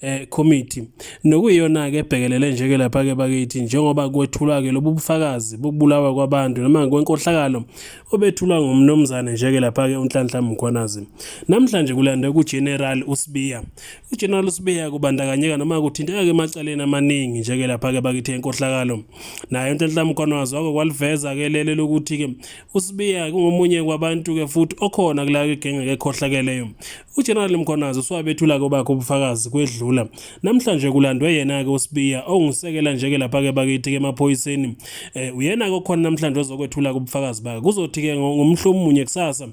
eh committee nokuyiyona ke ebhekelele nje ke lapha ke bakithi njengoba kwethulwa ke lobu bufakazi bokubulawa kwabantu noma kwenkohlakalo obethulwa ngomnomzane nje ke lapha ke uNhlanhla Mkhwanazi namhlanje kulande ku General Usibiya u General Usibiya kubandakanyeka noma kuthinteka ke macaleni amaningi nje ke lapha ke bakithi enkohlakalo naye uNhlanhla Mkhwanazi wako kwaliveza ke lele lokuthi ke usibiya kungomunye kwabantu-ke futhi okhona kulayo igenge-ke ekhohlakeleyo ujenerali mkhonazi usuwabethula-ke obakhe ubufakazi kwedlula namhlanje kulandwe yena-ke usibiya ongusekela nje-ke lapha-ke bakithi-ke emaphoyiseni um eh, uyena-ke okhona namhlanje ozokwethula-ke ubufakazi bakhe kuzothi-ke ngomhlomunye kusasa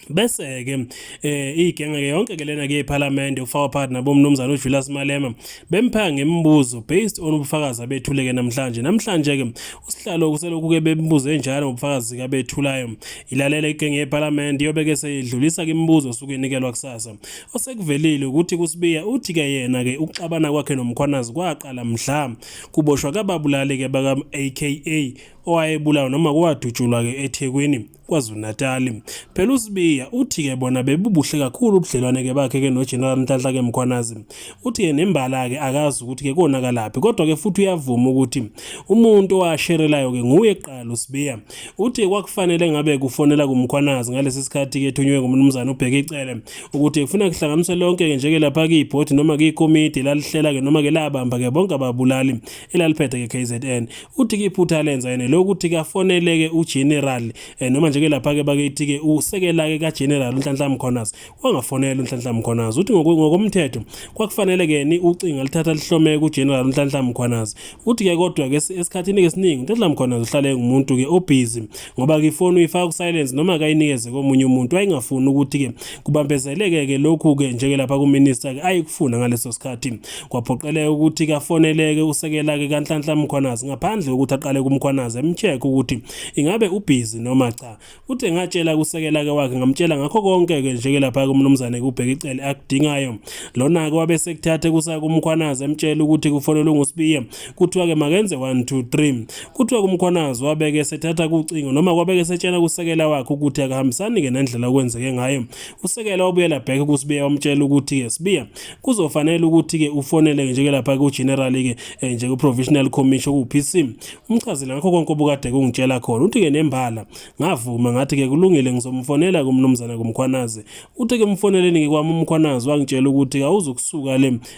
bese ke eh igenge ke yonke ke lena ke eParliament uFawa partner bomnumzana uJulius Malema bemphaka ngemibuzo based on ubufakazi abethuleke namhlanje namhlanje ke usihlalo kuselokhu ke bembuze njalo ubufakazi ka bethulayo ilalele igenge eParliament yobe ke seyidlulisa ke imibuzo suke nikelwa kusasa osekuvelile ukuthi kusibiya uthi ke yena ke ukuxabana kwakhe nomkhwanazi kwaqala mhla kuboshwa kababulali ke baka AKA owayebulawa noma kuwadutshulwa ke eThekwini KwaZulu-Natali. Phela uSibiya uthi-ke bona bebubuhle kakhulu ubudlelwane-ke bakhe-ke noGeneral Nhlanhla-ke Mkhwanazi. Uthi-ke nembala-ke akazi ukuthi-ke konakalaphi kodwa-ke futhi uyavuma ukuthi umuntu owasherelayo-ke nguye kuqala uSibiya. Uthi kwakufanele ngabe kufonela kuMkhwanazi ngalesi sikhathi-ke ethunywe nguMnumzane uBheka Icele ukuthi kufuna kuhlanganiswe lonke-ke njeke lapha kibhodi noma kikomidi lalihlela-ke noma-ke labamba-ke bonke ababulali elaliphethe ke KZN uthi ke iphutha lenza yena lokuthi kafoneleke uGeneral eh, noma nje ke lapha ke bakithi ke usekela ke kaGeneral uNhlanhla Mkhonas wangafonela uNhlanhla Mkhonas uthi ngokomthetho kwakufanele ke ni ucinga lithatha lihlome kuGeneral uNhlanhla Mkhonas uthi ke kodwa ke esikhathini ke siningi uNhlanhla Mkhonas uhlale ngumuntu ke obusy ngoba ke ifoni uyifaka ku silence noma akayinikeze komunye umuntu wayengafuni ukuthi ke kubambezeleke ke lokhu ke njeke lapha ku minister ke ayikufuna ngaleso sikhathi kwaphoqeleka ukuthi kafoneleke usekela ke kanhlanhla mkhwanazi ngaphandle ukuthi aqale kumkhwanazi emcheck ukuthi ingabe ubhizi noma cha uthe ngatshela kusekela ke wakhe ngamtshela ngakho konke ke njeke lapha kumnumzane kubheka icele akudingayo lona ke wabe sekuthathe kusa kumkhwanazi emtshela ukuthi kufonelwe ngusibiye kuthiwa ke makenze 1 2 3 kuthiwa kumkhwanazi wabeke esethatha kucingo noma kwabeke esetshela kusekela wakhe ukuthi akahambisani ke nendlela okwenzeke ngayo usekela wabuyela back kusibiya wamtshela ukuthi ke sibiya kuzofanele ukuthi ke ufonele nje ke lapha ku general ke eh, nje ku provisional commission ku PC umchazile ngakho konke obukade kungitshela khona uthi ke nembala ngavuma ngathi ke kulungile ngizomfonela kumnumzana kumkhwanazi uthi ke mfoneleni ngikwami umkhwanazi wangitshela ukuthi awuzukusuka le